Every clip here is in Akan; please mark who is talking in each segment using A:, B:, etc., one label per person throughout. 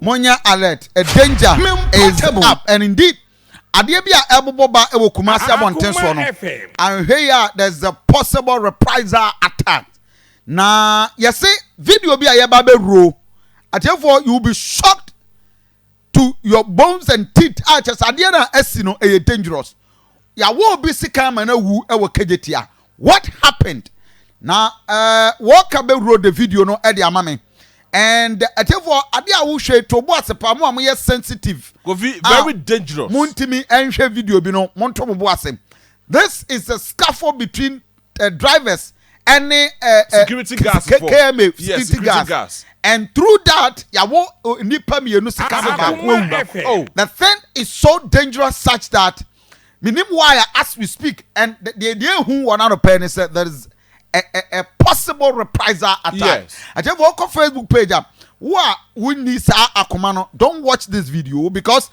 A: Monyɛ alert, a danger is up and indeed adeɛ bi a ɛbobɔ ba wɔ Kumasi abɔnten soɔ no, anhwɛ yi a there is a possible reprisal attack. Na yɛse video bi a yɛba bɛwuro atiefoɔ, you will be shocked to your bones and teeth a kyerɛ sɛ adeɛ no a asi no ɛyɛ dangerous. Yɛawɔ obi sekan ma no awu wɔ Kejetia. What happened? Na eh, wɔka bɛwuro the video no de ama me. And atiefoɔ adeɛ a wohwɛ to bo ase paa mo a moyɛ sensitive. Kofi a very
B: dangerous. Montimi nhwɛ
A: video bi no monto mo bo ase. This is a scuffle between uh, drivers ɛne uh, uh, security
B: guards for KMA security
A: guards
B: and
A: through that yawo uh, nipa mmienu sika so baako awu oh. the thing is so dangerous such that minim why as we speak and the the the ehu wɔn ano pɛɛ ne sɛ there is a a, a possible reprisal attack akyɛfo ɔkɔ
B: Facebook
A: page am. Ah, wo a wonni saa akoma no don't watch this video because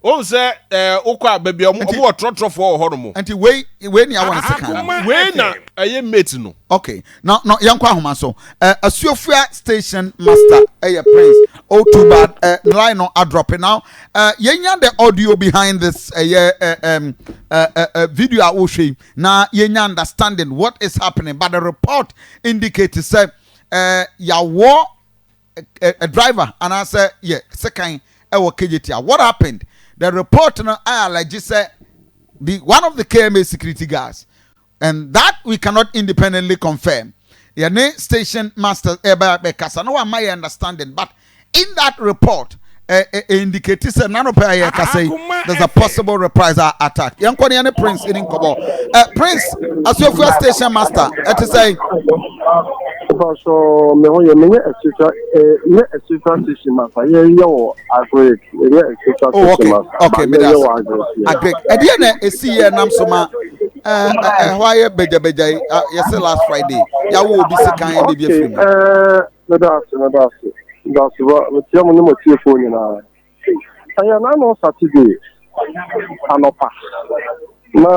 A: Ohun
B: sɛ ɛɛ wokɔ a baabi a wɔn wɔ trɔtrɔfoɔ wɔ hɔ nom. Nti wei wei ni
A: awɔ ne se kan no. Wei na ɛyɛ
B: mate no. Okay na na yɛn
A: kɔ ahoma so. Ɛɛ Asuafua station master ɛyɛ Prince oh too bad ɛɛ ne line no adrɔpe now ɛɛ yɛn nya the audio behind this ɛyɛ ɛɛ ɛm ɛɛ ɛɛ video a wohwɛ yi na yɛn nya understanding what is happening but the report indicate sɛ ɛɛ yawɔ. a a driver anaasɛ yɛ sekan wɔ Kejetia. What happened? The report no I allege sɛ the one of the KMA security guards and that we cannot independently confirm. Yɛne station master ɛbɛ bɛkasa na wama yɛ understanding but in that report indicate sɛ n'anɔpɛ a yɛkasa yi there's a possible reprisal attack yɛn kɔ ne yɛn ne prince ɛni nkɔbɔ ɛ prince asuafua station master ɛte sɛ. Baso
C: mehɔ yɛ menyɛ ɛsesa ɛ nyɛ ɛsesa station master yɛ yɛ wɔ agric yɛ ɛsesa oh, station master ba yɛ yɛ wɔ
A: agric. Agric ɛdeɛ na esi yɛ nam so ma ɛhɔ ayɛ bɛgyabɛgya yi yɛsɛ last Friday yawo obi sikan ɛde bi efiri mu. Meda ase,
C: meda ase. Meda ase ba, mekyia mo ne mo atiefoɔ nyinaa. Ɛyɛ n'ano Saturday anɔpa na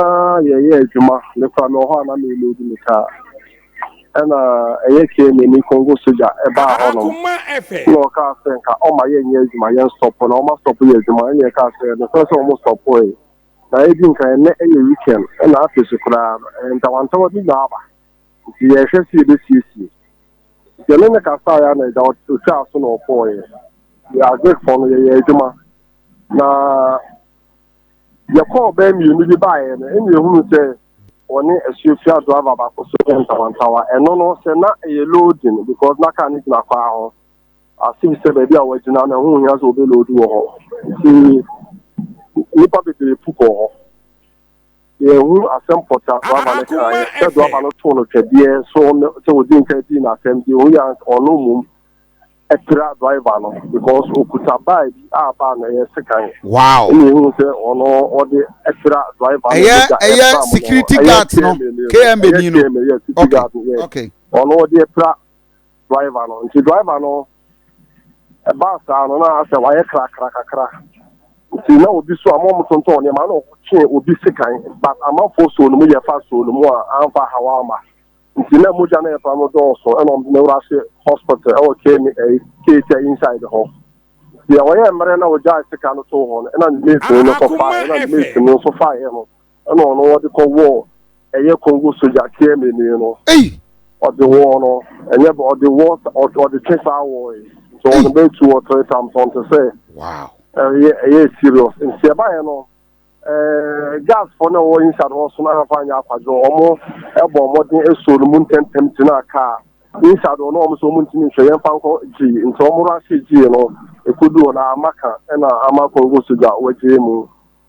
C: yɛyɛ adwuma mekora me wɔ hɔ a na meloodi me kaa ɛna ɛyɛ KMNI Congo sogya ɛbaa hɔ nom na ɔkaa sɛ nka ɔma yɛnyɛ adwuma yɛn stɔpo na ɔma stɔpo yɛ adwuma ɛna yɛkaa sɛ nokorɛ sɛ ɔmo stɔpoe na ɛdi nka ɛnɛ ɛyɛ weekend ɛna afei so koraa no ntawantawa bi na aba nti yɛrehwɛ sɛ yɛbɛsiesie. Nti ɛne no kasaeɛ a na agya ɔtwaa so na ɔkɔɔeɛ. Yɛ Azekfoɔ no yɛyɛ adwuma na yɛkɔɔ bɛɛ mmienu bi baeɛ no ɛne yɛhunu sɛ wɔne asuafia driver baako so yɛ ntawantawa. Ɛno no sɛ na ɛyɛ loading because na kaa no gyina kwaa ho. Asif sɛ baabi a wɔagyina na ho hia sɛ wɔbɛloadi wɔ hɔ. Nti nnipa bebree pu kɔɔ hɔ. yɛhu asɛm pɔta do ama no kaeɛ sɛ do ama no too no twɛdeɛ so no sɛ ɔdi nka dii no asɛm deɛ ɔhu yɛ ɔno mmom ɛpira driver no because ɔkuta baa bi a baa no ɛyɛ sekan wow ɛna ɛhu sɛ
A: ɔno
C: ɔde ɛpira driver no ɛyɛ ɛyɛ security guard
A: no kma ni no ɛyɛ security guard no yɛ ɔno ɔde ɛpira
C: driver no nti driver no ɛbaa saa no na asɛ wayɛ krakra kakra nti na obi so a mo tontɔn nneɛma na ɔkye obi sekan but amanfoɔ soo no mu yɛ fa soo no mu a amfa hawa ama nti na mogya na ɛfa no dɔɔso ɛna ɔmo ne wura se hospital ɛwɔ kane ɛyi keetia inside hɔ deɛ ɔyɛ mmerɛ na ɔgya sika no too hɔ no ɛna ne mate no nso fa ɛna ne mate no nso fa yɛ no ɛna ɔno wɔde kɔ wɔ ɛyɛ kongo soja km ni no ɔde wɔ no ɛnyɛ bɛ ɔde wɔ ɔde twe saa wɔ yi nti ɔno bɛ tu wɔ three times ɔn te sɛ ɛyɛ
A: ɛyɛ
C: serious nti ɛba yɛ no ɛɛ gas fɔ na wɔ inside hɔ so na afa nyɛ akwadwo ɔmo ɛbɔ ɔmo den ɛso no mu ntɛntɛm ti na kaa inside hɔ na ɔmo so ɔmo ntumi nhwɛ yɛn fa nkɔ gyi nti ɔmo ra se gyi no ekodu hɔ na amaka ɛna ama kongo soja wɔgye mu.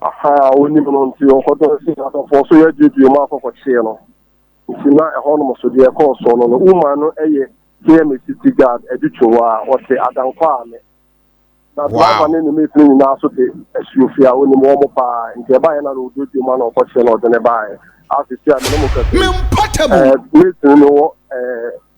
A: Ahaa, wonim
C: no nti ɔkɔtɔɔ sii n'adɔfoɔ so yɛ gyedie mu akɔ kɔkyee no. Nti na ɛhɔnom so deɛ ɛkɔɔ soɔ no no, Uma no yɛ KMA City Guard adutwo hɔ a ɔte Adankwa Ame. Na driver ne ne mate no nyinaa nso te Asuofie a ɔnim wɔn pa ara nti ɛbaeɛ na na ɔdɔ gyedie mu a na ɔkɔkyee no ɔde no baeɛ. Aa seesei a me ne mo kasa yi, eh, mate no wɔ eh,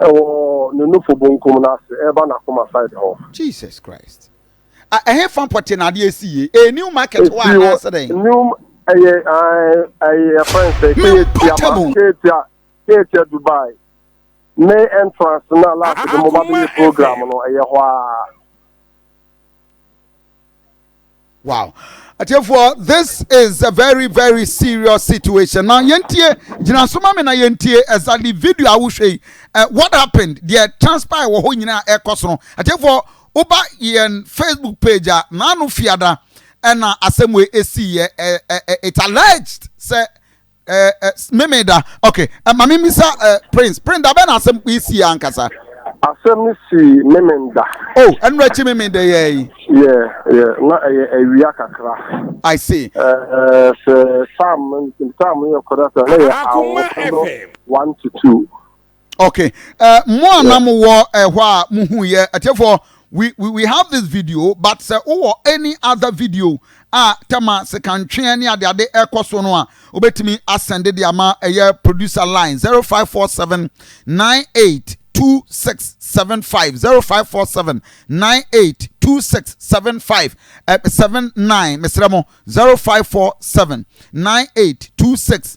A: Ɛwɔ
C: ne nufo bonkum no ase, ɛba n'akoma side hɔ. Jesus Christ!
A: A ɛhefa pɔte na adeɛ si yie? Ɛyɛ new market hɔ anaasɛ dɛn? Ɛsii wɔ new
C: ɛyɛ ɛyɛ yɛfrɛ no sɛ Keetia ma Keetia Keetia Dubai main entrance no a last de mo ba bɛyɛ program no ɛyɛ hɔ ara.
A: wow atiefoɔ this is a very very serious situation na yɛntie gyina so ma me na yɛntie exactly video a wohwɛ yi uh, what happened deɛ transpire wɔ hɔ nyinaa ɛkɔ so no atiefoɔ woba yɛn facebook page a naano fiada ɛna asɛm wei ɛsiiɛ it's alleged sɛ Eh, eh, meme da okay eh, ma memisa eh, prince prince da bɛn na asɛm yi si ankasa asɛm no
C: si meme da oh ɛno akyi
A: meme da yɛ yi yɛ yɛ
C: na ɛyɛ awia kakra i see
A: eh, eh,
C: sɛ sam sam yɛ kɔda sɛ na yɛ awofo no one to two
A: Okay. Uh, mo a na mo wɔ ɛhɔ eh, a mo hu yɛ ɛtɛfo we we we have this video but sɛ wowɔ any other video a tɛma sekantweɛ ne ade ade ɛkɔ so no a wobɛtumi asɛnde de ama ɛyɛ producer line zero five four seven nine eight two six seven five zero five four seven nine eight two six seven five eh, seven nine mesrɛ mo zero five four seven nine eight two six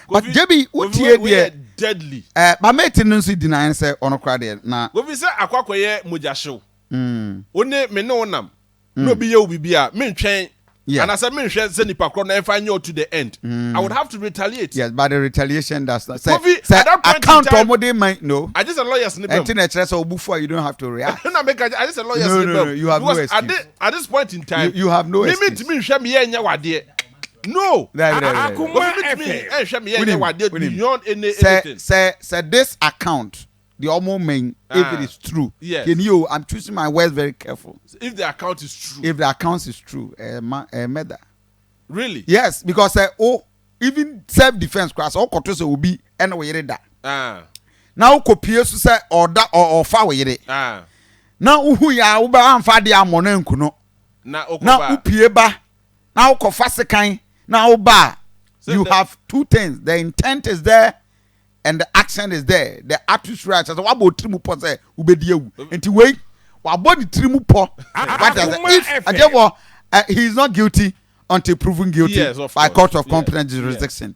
A: but gyebi wo tie deɛ eh,
B: ba mate no
A: nso di nan sɛ ɔno kora deɛ na. Kofi sɛ akɔ akɔyɛ
B: mogyahyew wo ne me ne wo nam na obi yɛ wo biribi a mentwɛn Yeah. anasɛ menhwɛ sɛ nipa korɔ no ɛmfa nyɛ ɔto the end i would have to retaliate Yes, but the retaliation
A: does not. Sɛ Kofi, sɛ at that point in account
B: a time- wɔn de man
A: no.
B: i just a
A: lawyers ne bɛm Ɛnti
B: na ɛkyerɛ sɛ ɔbufu a you
A: don't have to react. na meka kyɛ- i just a lawyers
B: No, ne no, bɛm no, you have no because
A: at excuse. thi- at this point in time
B: You- you have no me excuse. mentumi
A: nhwɛ meyɛ nyɛ
B: wadeɛ No! Akoma ɛpɛ. Wonim, wonim. Sɛ, sɛ, sɛ this
A: account, deɛ ɔmo mɛn, if it is true, deɛ ni o, I'm
B: choosing my
A: words very careful. If the account is
B: true. If the account is true,
A: ɛɛ ma, ɛɛ mɛda. Really?
B: Yes, because sɛ
A: o, even self defence koraa, sɛ ɔkɔto sɛ obi ɛne wo yere da. Na ɔkɔ pie so sɛ ɔda, ɔ, ɔfa wo yere. Na wohu yɛ a, wobɛ, anfa adeɛ ammɔ no anku no. Na wopie ba. na wokɔfa sekan na woba a you have two things the intent is there and the action is there the atmosphere a kyerɛ sɛ wabɔ otiri mu pɔ sɛ wobɛdi awu nti wei wabɔ ne tiri mu pɔ what does if adeɛ wɔ he is not guilty until proven guilty yes, by court of competent jurisdiction.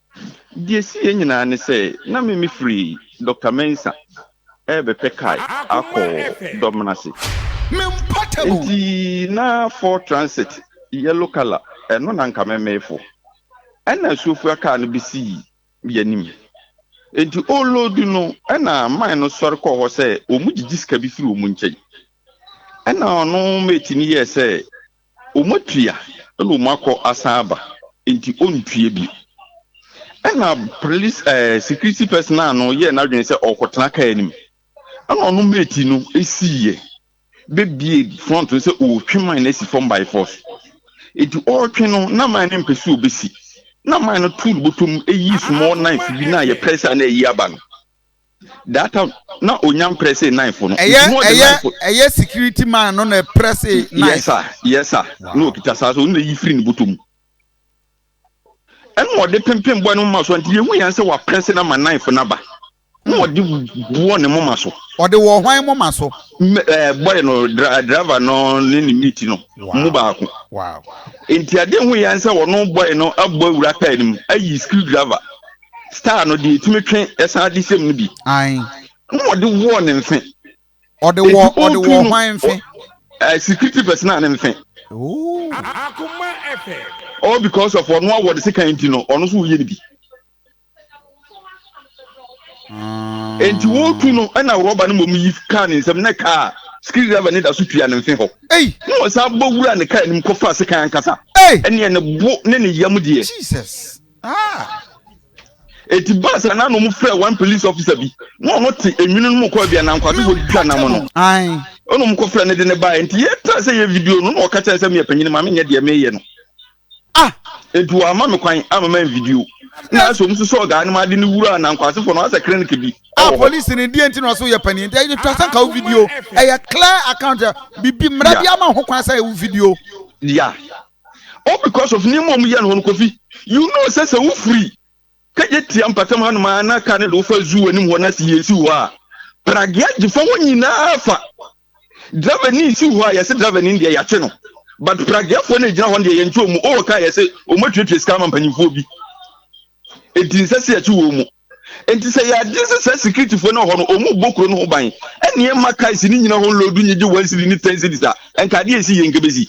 A: Deɛ ɛsiiɛ
D: nyinaa ne sɛ na me mefiri Doctor Mensah rebɛpɛ car akɔ Domnase, enti na Ford Transit yellow colour ɛno na anka memefo. Ɛna asuofua car no bɛsii yɛanim, enti ɔreloadu no ɛna man no sɔre kɔɔ hɔ sɛ wɔn gyegye sika bi firi wɔn nkyɛn. Ɛna ɔno mate no yɛɛ sɛ Wɔatua na wɔakɔ asan aba nti ɔntua bio. Ɛna police ɛɛ security personnel no yɛɛ n'adwene sɛ ɔrekɔtena kaa no mu. Ɛna ɔno mate no siiɛ bɛbue front no sɛ ɔretwe mine no asi fam by force. Nti ɔretwe no na mine no mpɛ sɛ ɔbɛsi. Na mine no too ne bɔtɔ mu yii small knife bi na yɛpɛe sɛ a na ayi aba no. That time na onya mprɛ se knife no. Ɛyɛ ɛyɛ ɛyɛ
A: security man no na ɛprɛ se knife. Yes sir yes sir
D: na okita saa so na yi firi ne bɔtɔ mu. Ɛna ɔde pimpin bɔ ne moma so nti yehu yɛn sɛ waprɛ se na ma knife na ba. Na hmm. ɔde bɔ ne moma so. Ɔde wɔ hwan moma
A: so? Ɛɛ eh, boy no
D: driver no ne ne mate no mu baako.
A: Nti ade hu
D: yɛn sɛ ɔno boy no abɔ awura kaa nim ayi screw driver. star no deɛ ɛtumi twe ɛsan de sɛm no bi ae na
A: ɔde wɔɔ
D: ne mfe ɔde wɔ
A: ɔde wɔ hwan mfe uh, security
D: personnel ne mfe
E: all because of
D: ɔno awɔ de sekan nti no ɔno nso woyɛ no bi ah. enti wɔtu no ɛna rɔba no mmom yi kaa ne nsɛm na kaa skiri driver ne da so tua ne mfe hɔ na ɔsan
A: bɔ wura
D: ne kaa anim kɔfa sekan ankasa ɛneɛ ne
A: bo ne
D: ne yam deɛ
A: Ah!
D: Eti baa sɛ na nom frɛ one police officer bi na ɔno te enwini no mu kɔɔ bia na nkwasefo twitwa nam no. Ae. Ɛna
A: ɔmo kɔfrɛ no de
D: no baeɛ nti yɛtra sɛ yɛ video no na ɔka kyerɛ sɛ meyɛ panyin ma menyɛ deɛ meyɛ no. Ah!
A: Nti wɔama
D: me kwan ama man video. Na asɛ ɔmo nso sɔɔ guy no ma ade no wuraa na nkwasefo no asɛ clinic bi Ah, ɛwɔ hɔ. police no deɛ
A: nti na ɔso yɛ panyin nti ɛtwa sɛ nka wo video ɛyɛ clear account bibi mmara Yeah. bi ama ho kwan sɛ ɛwo video. Yeah.
D: all because of nneɛma a wɔyɛ no hɔ no kofi you know sɛ sɛ wofiri kɛgye tia mpatam hanom a na kaa no de wofa zoo anim hɔ na si yɛ si hɔ a pragea gye fa hɔ nyinaa fa driver ni si hɔ a yɛsɛ driver ni deɛ yɛakye no but prageafoɔ no gyina hɔ deɛ yɛnkye wɔn mu ɔwɔ kaa yɛsɛ wɔn atuatua sika ama mpanyinfoɔ bi eti nsɛ sɛ yɛkye wɔn mu nti sɛ yɛagye sɛ saa sikiritifoɔ no hɔ no ɔmu bɔ kuro no ho ban ɛne ɛma kaesi no nyina ho lodu nyegye wɔn siri ne tɛn siri sa nka adeɛ ɛsi yɛ nkɛbɛsi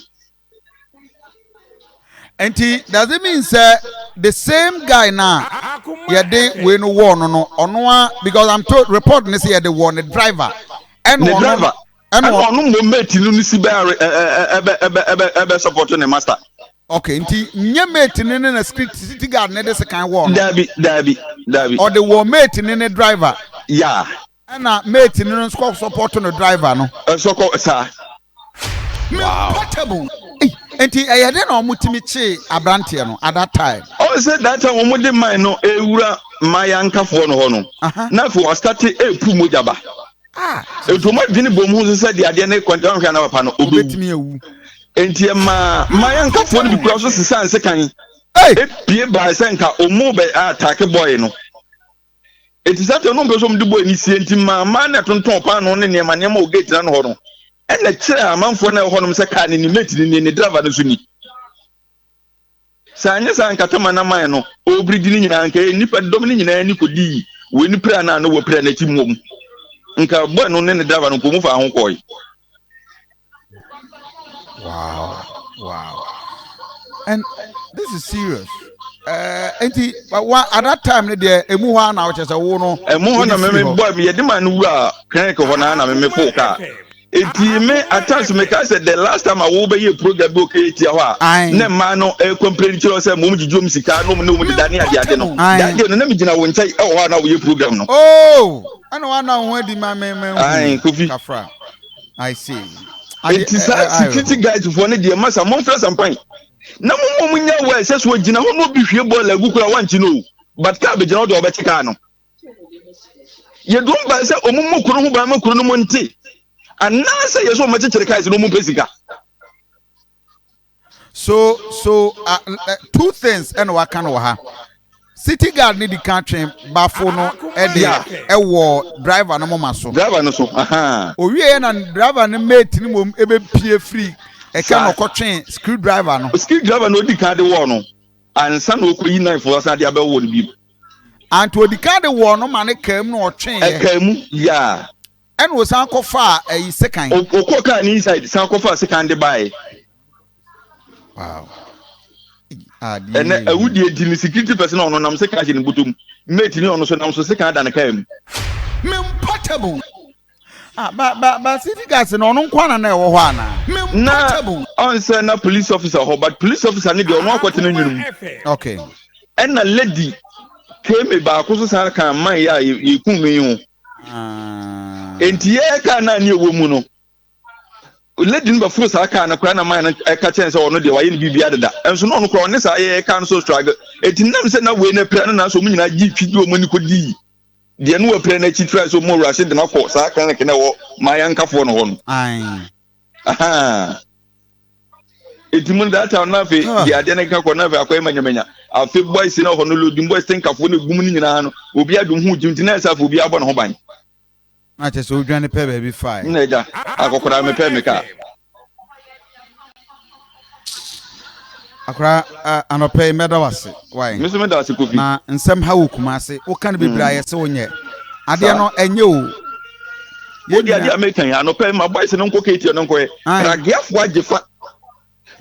A: nti does it mean sɛ the same guy na yɛde wei no wɔɔ no no ɔno a because i'm told report ne sɛ yɛde wɔɔ ne driver ɛna ne ɔno driver
D: ɛna ɛna ɔno ɔno mmom mate no no si bɛ are- ɛ- ɛ- ɛ- ɛbɛ ɛbɛ ɛbɛ ɛbɛ support ne master okay nti
A: nyɛ mate ne ne na security city guard ne de sekan wɔɔ no daabi daabi
D: daabi ɔde wɔɔ
A: mate ne ne driver ya
D: Ɛna mate
A: no no nso kɔ support no driver no. Ɛnso kɔ
D: saa.
A: Wow. Nti ɛyɛ dɛ na wɔn tumi kyee abranteɛ no at that time. Ɔn sɛ that time wɔn
D: de man no ewura mmaayaa nkafoɔ no hɔ no, na afei wasate epu mogya ba.
A: Ah. Nti wɔn adwene
D: bom ho nso sɛ deɛ adeɛ no kɔ nti wɔn hwɛ na papa no obewu. Obetumi ewu. Nti ɛmaa mmaayaa nkafoɔ no bi kura so sisaa nsekan. Epie baa sɛ nka wɔn bɛ ataake bɔɔye no. Enti sɛnea ɔno mpɛ sɛ wɔde bɔ ani sie nti maa mmaa na ɛtontɔn paanoo ne nneɛma nneɛma wɔ gate n'ano hɔ no, ɛna kyerɛɛ amanfoɔ na ɛwɔ hɔnom sɛ kaa no ni, mate no ni, ne driver no nso ni. Sɛ anyɛ saa anka tama na man no ɔrebiri di no nyinaa anka ɛyɛ nnipa dɔm no nyinaa ni kɔdii wei no pira no a na wɔpira n'akyi mmom. Nka bɔɛ no ne ne driver no mpo mu faa ho kɔɔe. wow
A: wow and this is serious eh, nti wa at that time no deɛ emu hɔ a na ɔkyɛ sɛ wo no ɛmu
D: hɔ na
A: meme
D: bɔ yɛde ma no wura clinic hɔ na na meme po kaa eti me atas me ka sɛ the last time a wɔbɛyɛ program bi o kɛyɛ tia hɔ a ne mmaa no ɛyɛ complain kyerɛ sɛ mom gyigye wɔn sika na wɔn ne wɔn deda ne ade ade no that day no na me gyina wɔn nkyɛn ɛwɔ hɔ a na wɔyɛ program no. ooo oh, ɛna
A: wɔn anan ho adi ma me ma ehu kafra.
D: I
A: see. Eti saa
D: eh, eh, security guys foɔ no deɛ masa mɔmfrɛ sampan na mo mɔ mo nya wɔ ɛsɛ so gyina hɔ na obi hwie bɔɔl agu kora wankyi no o but kaa bɛgyina hɔ deɛ ɔbɛkye kaa no yɛdom ban sɛ ɔmo mu koro ho ban ma kuro no mu nte anaasɛ yɛ sɛ ɔmo kyekyere kaa si na ɔmo pɛ sika
A: So so uh, uh, two things ɛna waka no wɔ ha. City guard ne di kan twe bafo no ɛde Yeah. ɛwɔ driver no moma so. driver no so aha
D: Owie yɛ na driver
A: no mate ne mom ɛbɛpie firi ɛka Saa. na ɔkɔtwe screw driver no. skill driver na odi kan de
D: wɔɔ no ansa na okoyi knife wɔ san de abɛwɔ no bi Anti odi
A: kan de wɔɔ no ma ne kaa mu na ɔtwe yɛ. ɛka mu yaa
D: Ɛna ɔsan
A: kɔfaa ayi sekan. O ɔkɔɔ kaa ne inside
D: san kɔfaa sekan de baeɛ.
A: Wow. Adeɛ
D: Ɛnɛ yɛ wi. awudie di ne security person a ɔno nam sekan hyɛ ne bɔtɔ mu. Mate ne ɔno nso nam so sekan da ne kaa mu. Me
A: portable. Ah, ba, ba, ba city gas no ɔno nko ana na ɛwɔ hɔ ana? Me Na portable. ɔn sɛ na police
D: officer hɔ but police officer ne deɛ ɔno akɔtena nwunu mu. Okay.
A: Ɛna lady
D: keme baako nso san kaa man yi a yɛ- yɛkum no yi ho. nti yɛyɛ kaa no a ne ɛwɔ mu no lady no bɛforo saa kaa no koraa na man no ɛka kyɛn sɛ ɔno deɛ wayɛ no biribia deda nso na ɔno koraa ɔne saa yɛyɛ kaa no so struggle ɛti nam sɛ na wei no apira no nanso ɔmo nyinaa gye twi de ɔmo ani kɔdii deɛ no wapira no akyi tra sɛ ɔmo awurase de no akɔ saa clinic na ɛwɔ maa yɛnkafoɔ no hɔ no Ahaa. Eti mu data na afei ah. di ade ne ka kɔ na afei akɔyɛ manyamanya. Afei boys na hɔ no lodin boys tenkafo ne gum ne nyinaa no obi adum ho gyim tina ɛsɛ afei obi abɔ ne ho ban. Na kyɛ sɛ
A: odwane pɛ baabi fae. Na agya akɔkora
D: me pɛ me ka.
A: akora eh, anɔpɛ yi mɛda wase wae me nso meda wase kofi na
D: nsɛm ha wɔ
A: kuma ase woka no bebree a yɛse wonyɛ adeɛ no ɛnyɛ o
D: wode adeɛ a meka yi anɔpɛ ma boys no nkɔ kɛtiɛ no nkɔɛ krageafoɔ agye fa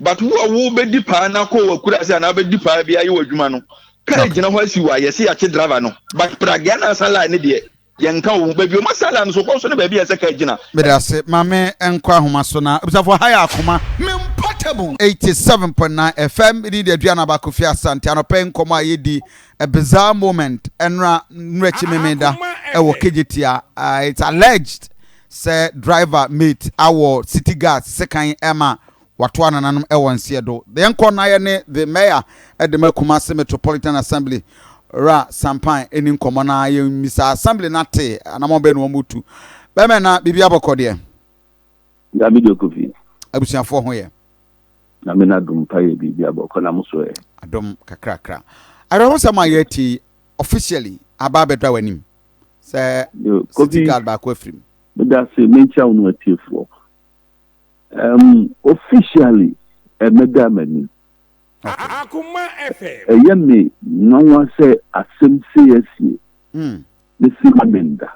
D: but wo a wobɛdi paa na kɔ wakura ase anaa wobɛdi paa bi ayɛ w'adwuma no kaa gyina hɔ asi wo a yɛse yɛakye driver no but pragea no asa line ne deɛ Yɛnka owu baabi o, ma saa line no so kɔ so ne baabi a ɛsɛ kaa gyina. Meda ase. Ma me
A: nkɔ ahoma so na abusuafo ha yɛ akoma. Me mpa tabu. 87.9 FM me din de Aduana Aba Kofi Asante anɔpa yi nkɔmmɔ a yɛdi a bizarre moment ɛnora nwerɛkyi memeda ɛwɔ Kejetia it's alleged sɛ driver mate awɔ city guards sekan ɛma Watoa nananom wɔ nseɛ do. Deɛ nkɔ nayɛ ne the mayor de ma Kumasi Metropolitan Assembly wura Sampan ɛni nkɔmɔ na yɛn mmisaa assembly no ate anamɔn bɛn na wɔn retu. Bɛmɛ na biribi abɔkɔ deɛ?
F: Dabi deɛ Kofi. Abusuafoɔ ho yɛ?
A: Nyame no
F: adom pa yɛ biribi abɔkɔ na mo so ɛ? Adom kakrakra.
A: Awerɛhosɛm a yɛ atie yi officially aba abɛdɔ a w'anim sɛ city guard baako afirim. Medase
F: menkyia wo ne w'atiefoɔ. Um, officially, ɛmmɛda m'anim. Akoma
E: FM. Ɛyɛ me
F: nwanwa sɛ asɛm sei asie. Hmm. Me se ma menda.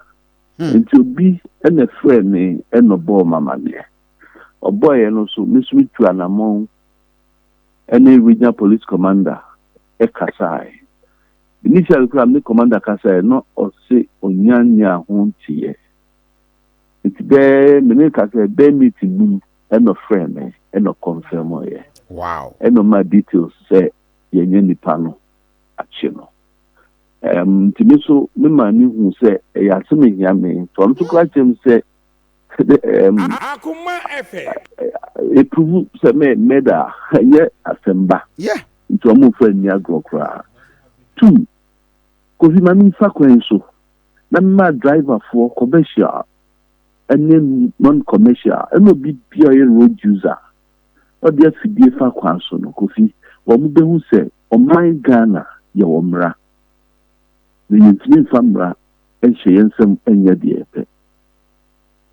F: Hmm. Nti obi na ɛfrɛɛ me ɛna ɔbɔɔ m'amaneɛ. Ɔbɔeɛ no so me so metu anamɔn ɛne regional police commander ɛkasae. Initially koraa me ne commander kasaeɛ na ɔse ɔnya nyaa ho nteeɛ. Nti bɛ me ne ka sɛ bɛ meeting no mu ɛna ɔfrɛɛ me ɛna ɔconfirmɔeɛ. Wow. Ɛna ɔmaa
A: details
F: sɛ yɛanya nipa no akye no. Um, nti me so me maa ne hu sɛ ɛyɛ asɛm ehia me. Nti ɔno so koraa kyerɛ me sɛ um, Akoma
E: ɛfɛ. Epuhu
F: sɛ me mɛda ɛnyɛ asɛm ba. Yeah. Nti
A: ɔmo nfa nni
F: agorɔ koraa. Two, Kofi ma me nfa kwan so. Mɛma driverfoɔ, commercial ne non-commercial, ɛna obi biara ɔyɛ road user, na ɔde afidie fa kwan so no, Kofi, wɔbɛhu sɛ ɔman Ghana yɛwɔ mmara, na yɛntumi mfa mmara nhyɛ yɛn nsam nyɛ deɛ yɛpɛ.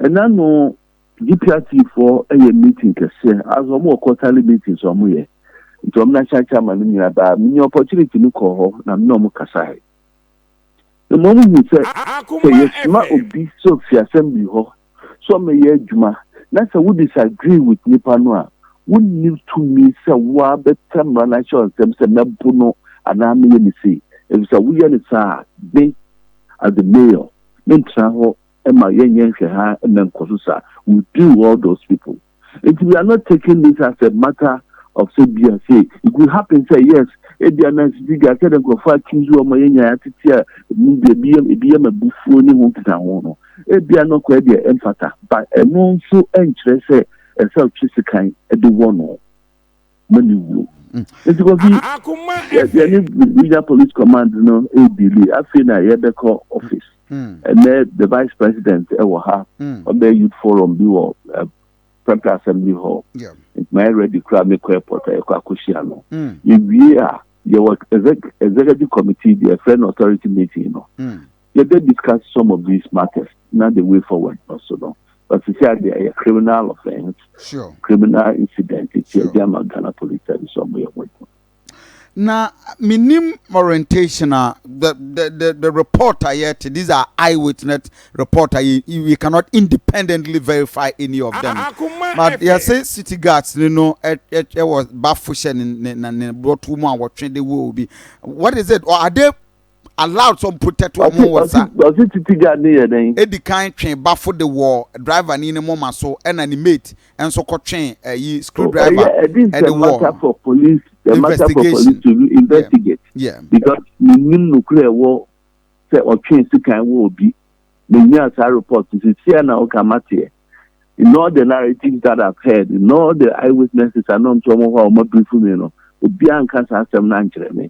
F: Ɛna ano DPRT foɔ yɛ meeting kɛseɛ, as wɔn wɔ quarterly meetings wɔn yɛ, nti wɔn na Shai Chairman no nyinaa baa, menya opportunity no kɔɔ hɔ na me ne wɔn kasaeɛ. Mmom hu sɛ, sɛ yɛsoma obi sɛ ofi assembly hɔ sɛ ɔmmɛyɛ adwuma na sɛ wo disagree with nipa no a, wonni tumi sɛ wo ara bɛka mmara no ahyɛ wo nsam sɛ mɛbo no anaa mɛyɛ no sei. Efisɛ woyɛ no saa a, me as the mayor mentena hɔ mma yɛnyɛ nhwɛhaa mmɛnkɔ so saa. We deal all those people. Nti we are not taking this as a matter of sɛ bia sei. It could happen sɛ yes, ebia na sisi ga sɛ dɛ nkurɔfoɔ a choose wɔn a yɛnyaeɛ atete a mu bi ebi yɛ ebi yɛ ma bufuo ne ho nkita ho no, ebia no kɔɛ deɛ ɛmfata. But ɛno nso ɛnkyerɛ sɛ ɛsɛ ɔtwe sekan de wɔ no. ma ne wuo nti kɔfi yɛdeɛ ne regional police command no ɛdili afei na yɛbɛkɔ office ɛnɛ the vice president ɛwɔ ha ɔbɛ youth forum bi wɔ central assembly hall nti ma yɛ ready kora mekɔ airport a yɛkɔ akɔhyia no yɛwie a yɛwɔ executive committee deɛ ɛfrɛ no authority meeting no Yɛbɛ discuss some of these matters na the way forward no so no, but sesei deɛ ɛyɛ criminal offence, sure. criminal incident nti sure. ɛde ama Ghana Police Service ɔmo yɛ wɔn adwuma.
A: Na menim orientation a the, the, the, the report a yɛte these are eyewitness report a we cannot independently verify any of them but yɛse city guards no no ɛwɔ bafo hyɛ ne ne ne bɔtɔ mu a wɔtwe de wɔ obi what is it or are they allowed sɛ ɔmprotɛt wɔn ho wɔ sa. Ɔse titi guard no
F: yɛ dɛn? Edikan twe bafo
A: de wɔɔ driver nii ne moma so ɛna ne mate nso kɔ twe ɛyi screw driver ɛde wɔɔ. This is a matter
F: for police, a matter for police to investigate because
A: me nim
F: nokura ɛwɔ sɛ ɔtwee sekan wɔ obi. Me nyaa saa report no sisi a na woka mateɛ. In all the narratives that I've heard, in all the eyewitnesses a na ɔmte ɔmo hɔ a ɔmo abrifu me no, obiara anka saa asɛm no ankyerɛ me.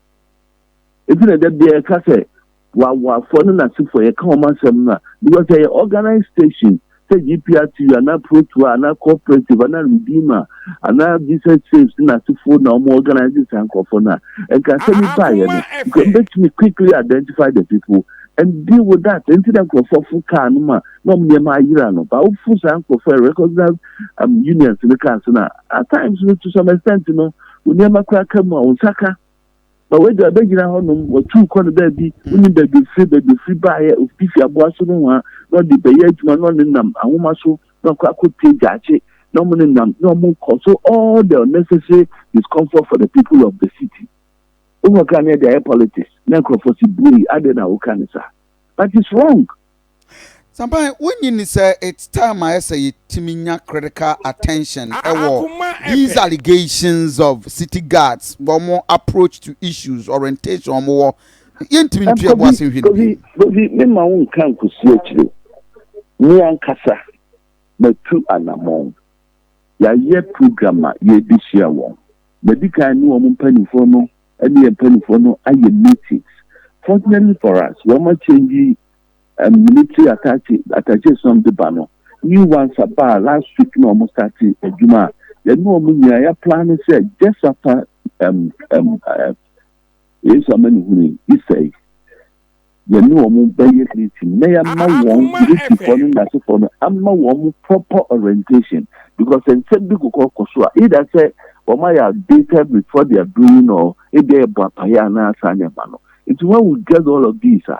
F: Enti na da biara yɛka sɛ w'awoafoɔ ne n'asefoɔ yɛka wɔn asɛm no a because ɛyɛ organized station sɛ GPR TV anaa Protoa anaa Cooperative anaa Redeemer anaa Jesus Saves ne n'asefoɔ na wɔn organize saa nkurɔfoɔ no a nka asɛm yi baayɛ no nka mbɛtumi quickly identify the people and deal with that nti na nkurɔfoɔ fo kaa no ma na wɔn nneɛma ayera no ba wofo saa nkurɔfoɔ recognize um, unions no kaa so na at times no to some extent no wo nneɛma koraa ka mu a, wo nsa ka. Ma w'agya bɛgyina hɔnom, watu wo kɔ no baabi, wonim baabi ofiri, baabi ofiri baeɛ, obi fi aboa so nohoa, na ɔde bɛyɛ adwuma, na ɔne nam ahoma so, na ɔkɔ akɔtie gyaakye, na wɔn ne nam, na wɔn kɔ so all the unnecessary discomfort for the people of the city. Wohɔ koraa na yɛde ayɛ politics, na nkurɔfoɔ se buei, adɛn na woka no saa? But it's wrong. Sometimes
A: wonyi ni sɛ it's time ayɛ sɛ yɛtumi nya critical attention ɛwɔ these allegations of city guards wɔn approach to issues orientation wɔn wɔ yɛntumi ntua ɛbo ase nhwɛ no bi. ne ma wo
F: nka nkosi akyire me ankasa matu anamɔn yɛayɛ program a yɛde hyia wɔn madi kan ne wɔn mpanimfoɔ no ɛne yɛ mpanimfoɔ no ayɛ meetings fortunately for us wɔn akyɛngyi military attache attaches nom de ba no new ones abaa last week na wɔn starte adwuma a yɛne wɔn nyinaa yɛ plan ne sɛ just after um, um, uh, yesu amanehunu yi isa yi yɛne wɔn bɛyɛ meeting na yɛama wɔn militaryfoɔ no nasefoɔ no ama wɔn proper orientation because nsɛm bi kokɔ kɔ so a either sɛ wɔn ayɛ outdated with what they are doing or ebi yɛ bɔ apayɛ anaa saa nneɛma no nti wɔn awu drag all of these a.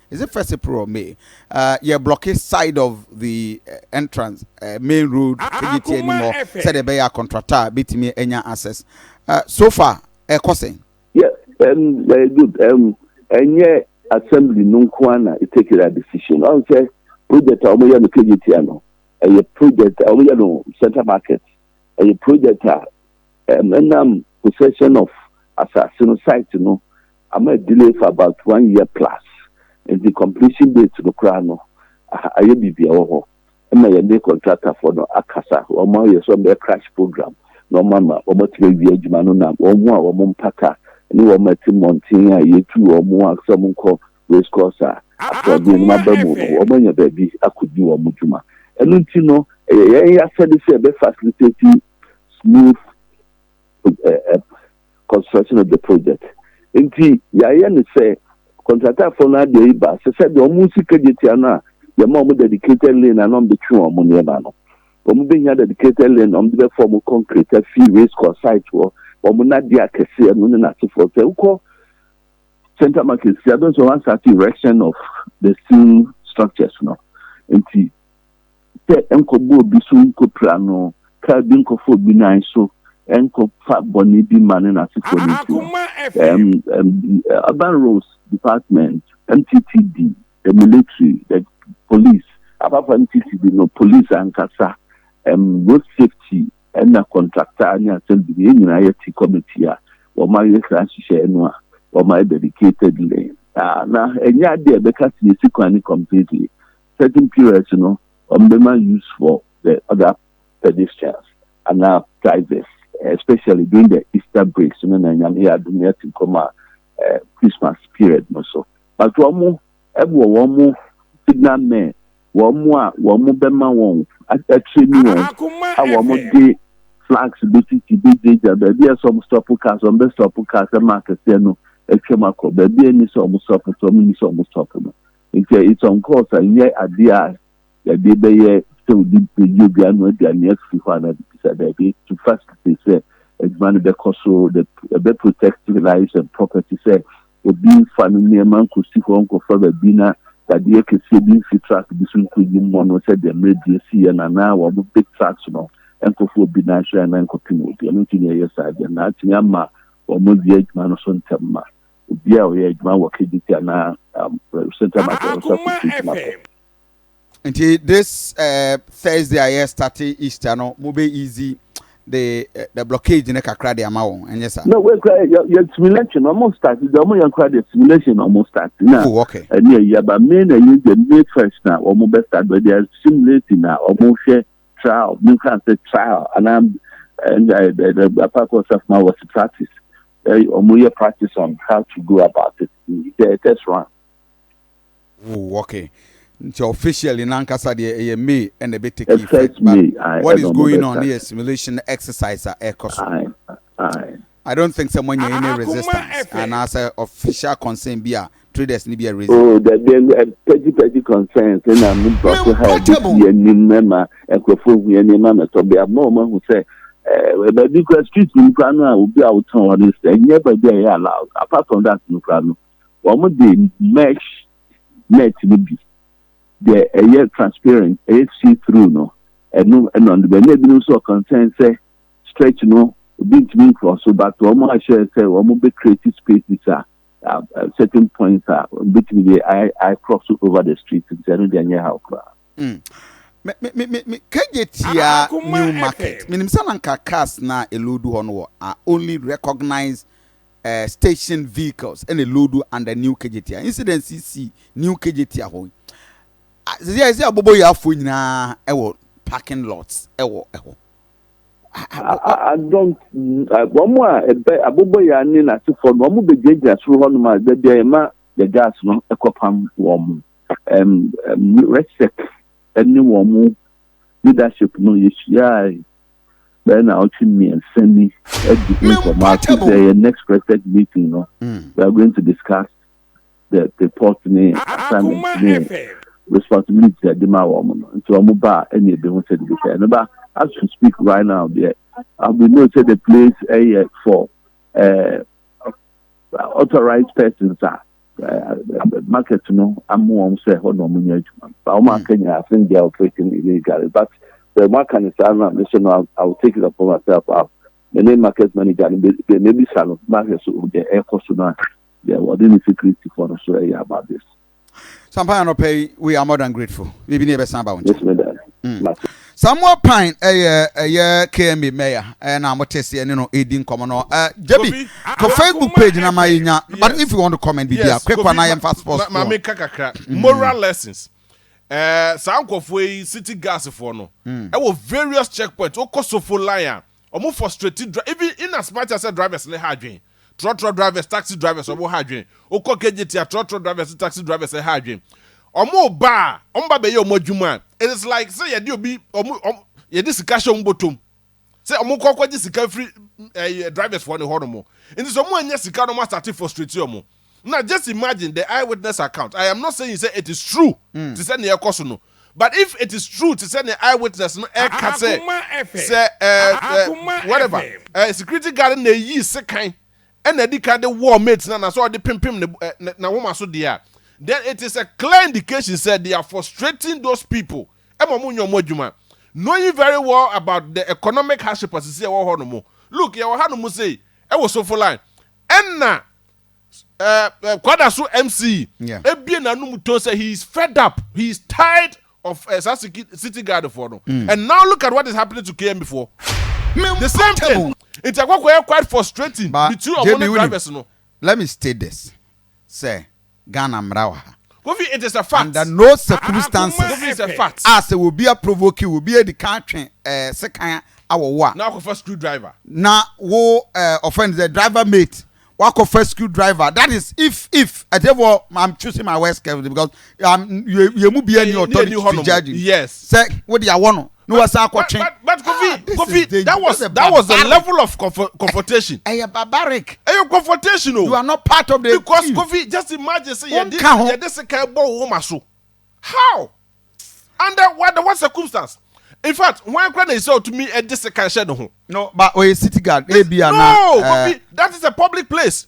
A: Is it first April or May? Uh, yɛ blocke side of the uh, entrance uh, main road ɛyɛ ti anim hɔ sɛdeɛ ɛbɛyɛ a contractor a bɛtumi anya access uh, so far ɛkɔ sɛn yeah, um,
F: uh, good um, ɛnyɛ assembly no nko a na take that decision ɔn sɛ project a wɔyɛ no kgt a no ɛyɛ project a wɔyɛ no central market ɛyɛ project a um, ɛnam possession of asase no site no ama adelay for about one year plus nti completion date no koraa no ayɛ biribi a ɛwɔ hɔ ma yɛne contractor foɔ no akasa wɔn ayɛ sɛ wɔn bɛyɛ crash program na wɔn ama wɔn atumi awie adwuma no na wɔn ho a wɔn mpata ne wɔn ɛte mmɔnten a yɛtu wɔn a sɛ wɔn nkɔ race course a asoɔden no aba mu no wɔn anya baabi akɔdi wɔn adwuma ɛno nti no ɛyɛ yɛn yɛasɛde sɛ ɛbɛ facilitate smooth construction of the project nti yɛayɛ no sɛ kɔntratafo no adeɛ yi ba sɛ sɛdeɛ wɔn sika gye tia no a yɛma wɔn dedicated lane a na wɔn de twe wɔn nneɛma no wɔn bɛhia dedicated lane na wɔn de bɛfɔ wɔn concrete afi race course site hɔ wɔn nadeɛ akɛseɛ no ne n'asefoɔ sɛ wokɔ central market si abɛn so wɔn asate erection of the steel structures no nti. sɛ ɛnkɔbɔ obi so nkɔpira no, kaa bi nkɔfa obi nan so, ɛnkɔfa bɔne bi mma ne n'asefoɔ no nti no, ɛɛm, ɛɛm, the urban roads department, MTTD, the military, the police, apart from MTTD no, police ankasa, ɛɛm, road safety, ɛna contractor ne asɛmdini, yɛn nyinaa yɛte committee a wɔayɛ saa nhyehyɛeɛ no a wɔayɛ dedicatedly, na ɛnyɛ adeɛ a yɛbɛka sɛ yɛsi kwan no completely. certain periods no wɔn bɛma use for the other pedestrians anaa prizes especially during the Easter breaks no na Nyame yɛ adom na yɛte nkɔm a Christmas period no so but wɔn mo ɛwɔ wɔn mo signal men wɔn mo a wɔn mo bɛma wɔn akyerɛ ni wɔn a wɔn mo de flags bɛsisi bɛgyagya baabi a ɛsɛ wɔn stop cars wɔn bɛ stop cars ɛma akɛseɛ no atwam akɔ baabi a ɛni sɛ wɔn stop so wɔn ni sɛ wɔn stop no. Nkyɛ esiɔn kɔɔs a nnyɛ ade a yɛde bɛyɛ sɛ obi bɛyi obi ano adi a nea ɛfi hɔ a na bisa daabi to facilitate sɛ adwuma no bɛkɔ so, the ɛbɛ protect lives and property sɛ obi mfa ne nneɛma nkɔsi hɔ nkɔfa baabi na dadeɛ kɛseɛ bi mfi truck bi so nkɔyi mmɔ no sɛdeɛ mmerɛ bi asiiɛ no anaa wɔn big trucks no nkɔfa obi no ahwɛ anaa nkɔpem obi ɛno nti na yɛyɛ saa deɛ na atumi ama wɔn awie adwuma no so ntɛm ma obiara a ɔyɛ adwuma wɔ KGT anaa um, Central Market ah, Officer Association akɔ.
A: Nti this uh, Thursday a yɛ start Easter no mo bɛ easy the uh, the blockage ne kakra de ama wɔn ɛnyɛ sa. No wei kura yɛ yɛ
F: simulation ɔmo start de ɔmo yɛ kura de simulation ɔmo start na oh, okay. ɛni ɛyi
A: aba May na
F: ɛyi de May first na ɔmo bɛ start but they are simulating na ɔmo hwɛ trial mi nfa sɛ trial anaa ɛɛ ɛɛ ɛɛ apá kɔ sɛ fún wa wɔ si practice. Ɔmo yɛ practice on how to go about it sɛ test
A: run. Oh ok nti officially nankasa deɛ ɛyɛ May ɛna ɛbɛ take effect but what is going on ne yɛ simulation exercise a ɛkɔ so. I don't think sɛ moanya any resistance anaasɛ official concern bi a traders no bi a raising. Oh dabi ɛɛ
F: petty petty concerns ɛna mo nkurɔfo ha ɛbɛsi yɛ nim ɛma nkurɔfo hu yɛ nneɛma na ɛtɔ bia mo a wɔn ahu sɛ ɛɛ eh, baabi kura street nim kura no a obi a wotɔn hɔ no sɛ ɛnyɛ baabi a ɛyɛ allowed apart from that no kura no wɔn de mesh net no bi deɛ ɛyɛ transparent ɛyɛ see through no ɛno ɛna ɔno bɛ ɛna ebinom nso ɔkɔnsɛn sɛ stretch no obi ntumi nkorɔ so but wɔn ahyɛ sɛ wɔn bɛ create spaces a um, uh, certain points a betumi de i i cross over the street nti ɛno deɛ nyɛ haw koraa. Mm. Me me me
A: me kagye tia new market. Minim sɛ na nka cars na elodu hɔ no wɔ are only recognized uh, station vehicles ɛna elodu under new kagye tia incident si new kagye tia hɔ. Sisi a ɛsɛ abobɔ yi afɔ nyinaa ɛwɔ parking lots ɛwɔ ɛhɔ.
F: I, I, I don't. Wɔn a ɛbɛ abobɔ yɛ ne n'asefoɔ no, wɔn bɛgyinagyina soro hɔnom a baabi a yɛma the gas no ɛkɔpam wɔn. Um, um, resec ne wɔn leadership no yɛhyiae bɛyɛ na ɔtwe mmiɛnsa ni adi ho nkɔmmɔ ase sɛ yɛ next resec meeting no mm. we are going to discuss the report ne assignment ne responsibility a ɛde ma wɔn no nti wɔn ba a ɛna ebi ho sɛ de bi sɛ ɛno ba as we speak right now deɛ uh, we know say the place ɛyɛ for uh, authorized persons a uh, market no amu wɔn sɛ hɔ na wɔn nyɛ adwuma ba wɔn aka nyinaa i think they are operating illegally but the one can is now me say no i will take it upon myself out me ne market manager no bɛ bɛ mɛ bi sa no market so deɛ ɛkɔ so no a. Deɛ wɔde no si Kristifoɔ no so yɛ abades. Sampa anɔpa
A: yi, we are more than grateful. Biribi ne yɛbɛsan aba wo nkyɛn. Mɛtumi dɛn? Mm.
F: Mate. Samuel
A: Pine ɛyɛ ɛyɛ KMA mayor ɛna mo te seɛ ne no ɛdi nkɔmɔ no ɛ Jabi kɔ Facebook page na ma yɛnya but if you want to comment biribi a quick one na yɛmfa sports ma me ka kakra moral
B: lessons ɛɛ saa nkɔfoɔ yi city gas foɔ no ɛwɔ various checkpoints wokɔ sofo line a Ɔmo frustrate dri even in as much as sɛ drivers no ha adwen. Trɔtrɔ drivers, taxi drivers ɔmo ha adwen. Wo kɔ KJT a trɔtrɔ drivers ne taxi drivers ɛha adwen. Ɔmo ba a, ɔmo ba bɛyɛ ɔmo adwuma a, it is like sɛ yɛde obi ɔmo ɔmo yɛde sika hyɛ ɔmo bɔtɔm. Sɛ ɔmo kɔ kɔgye sika firi ɛɛ drivers foɔ no hɔ nom. Nti sɛ ɔmo annya sika no ɔmo asate frustrate ɔmo. Now just imagine the eye witness account, I am not saying sɛ it is true te sɛ nea ɛkɔ so no, but if it is true te sɛ nea eye witness no ɛka sɛ sɛ ɛɛ whatever ɛɛ security guard no na eyii sekan ɛna adi kan de wɔɔ mate no anaasɛ ɔde pempem ne ne n'ahomaso deɛ a, then it is a clear indication sɛ they are frustrating those people ɛma wɔn nyɛ wɔn adwuma knowing very well about the economic hardship a sisi ɛwɔ hɔ nom. Look, yɛwɔ ha nom sei ɛwɔ Sofoline. Ɛna eh, kwada so MC yeah. ebie n'anum to sɛ he is fed up he is tired of uh, saa city guard for no mm. and now look at what is happening to KMB for the same thing nti akɔkɔ yɛ quite frustrating between ɔmo ne drivers no. let me state this
A: sɛ Ghana mmara wɔ ha. Kofi it is a
B: fact. Under no circumstances.
A: Kofi is a fact. A
B: sɛ obi a
A: provoke wo, obi a edi kan atwe eh, sekan awɔ wo a. Na wakɔfa screw driver.
B: Na wo
A: eh, ɔfɛn de driver mate. Wakɔfa screw driver. That is if if. Ɛtɛfɔ I'm choosing my words carefully because um, yɛ mu bi ani authority to judge. Yes. Sɛ wo
B: de awɔ
A: no. na wasan akɔtwe. But, but Kofi, ah,
B: Kofi, that was that was the level of confrontation. Ẹ yẹ barbaric.
A: Ẹ yẹ confrontation
B: o. You are not part of
A: the team. Because Kofi, just
B: imagine say yẹ this yẹ this kan bọ wọn ma so. How? Under what what circumstance? In fact, wọn kura na ẹsẹ ọtumi ẹdi sekan ṣẹ ne ho. No, but oye city
A: guard. No, Kofi, eh,
B: that is a public place.